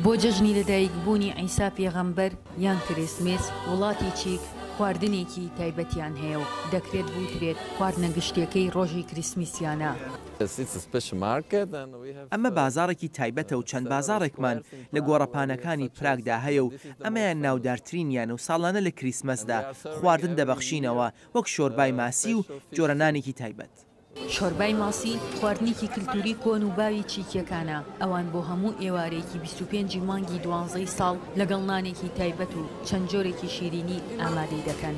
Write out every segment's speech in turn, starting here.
بۆ جەژنی لەدایکبوونی عیسا پێغەمبەر یان کریسمس، وڵاتی چیک خواردنێکی تایبەتیان هەیە و دەکرێت بوترێت خواردنە گشتییەکەی ڕۆژی کریسمسیانە. ئەمە بازاڕێکی تایبەتە و چەند بازاڕێکمان لە گۆڕەپانەکانی پراگدا هەیە و ئەمەیان ناودارترینیانە و ساڵانە لە کریسمسدا خواردن دەبەخشینەوە وەک شۆربای ماسی و جۆرە نانێکی تایبەت. شۆربای ماسی خواردنێکی کلتوری کۆن و باوی چیکیەکانە، ئەوان بۆ هەموو ئێوارەیەکی بیست و پێنج ی مانگی دوانزەی ساڵ لەگەڵ نانێکی تایبەت و چەند جۆرێکی شیرینی ئامادەی دەکەن.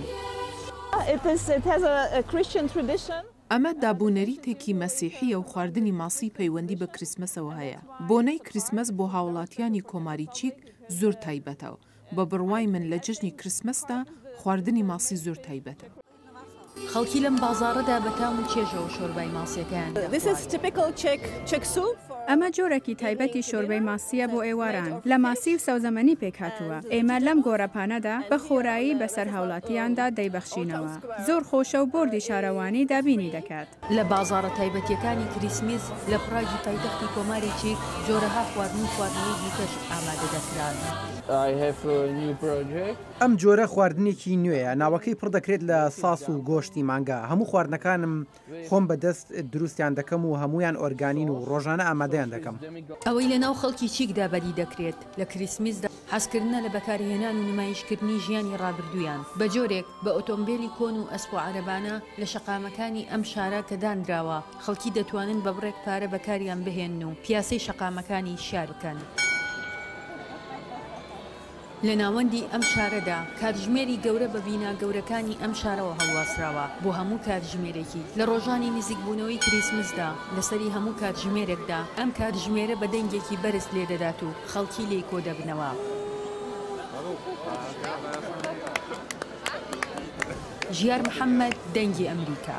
ئەمە دابونەریتێکی مەسیحییە و خواردنی ماسی پەیوەندی بە کریسمەسەوە هەیە. بۆنەی کریسمەس بۆ هاوڵاتیانی کۆماری چیک زۆر تایبەتە و بە بڕوای من لە جەژنی کریسمەسدا خواردنی ماسی زۆر تایبەتە. خەڵکی لەم بازاڕەدا بە تام و چێژەوە شۆربای ماسییەکەیان دەخوارد. ئەمە جۆرێکی تایبەتی شۆربای ماسییە بۆ ئێواران، لە ماسی و سەوزەمەنی پێکهاتووە. ئێمە لەم گۆرەپانەدا بە خۆرایی بەسەر هاوڵاتییاندا دەیبەخشینەوە. زۆر خۆشە و بۆردی شارەوانی دابینی دەکات. لە بازاڕە تایبەتییەکانی کریسمس لە پراگی پایتەختی کۆماری چیک، جۆرەها خواردن و خواردنەوەی دیکەش ئامادە دەکران. ئەم جۆرە خواردنێکی نوێیە ناوەکەی پڕ دەکرێت لە ساس و گۆشتی مانگا هەموو خواردنەکانم خۆم بە دەست دروستیان دەکەم و هەموویان ئۆرگانین و ڕۆژانە ئامادەیان دەکەم. ئەوەی لە ناو خەڵکی چیکدا بەدی دەکرێت لە کریسمسدا حەزکردنە لە بەکارهێنان و نمایشکردنی ژیانی ڕابردوویان بە جۆرێک بە ئۆتۆمبێلی کۆن و ئەسپ و عەرەبانە لە شەقامەکانی ئەم شارە کە دانراوە خەڵکی دەتوانن بە بڕێک پارە بەکاریان بهێنن و پیاسەی شەقامەکانی شار بکەن. لە ناوەندی ئەم شارەدا کاتژمێری گەورە بە بینا گەورەکانی ئەم شارەوە هەڵواسراوە بۆ هەموو کاتژمێرێکی لە ڕۆژانی نزیکبوونەوەی کریسمسدا، لەسەری هەموو کاتژمێرێکدا ئەم کاتژمێرە بە دەنگێکی بەرز لێدەدات و خەڵکی لێی کۆدەبنەوە. ژیار محەمەد، دەنگی ئەمریکا.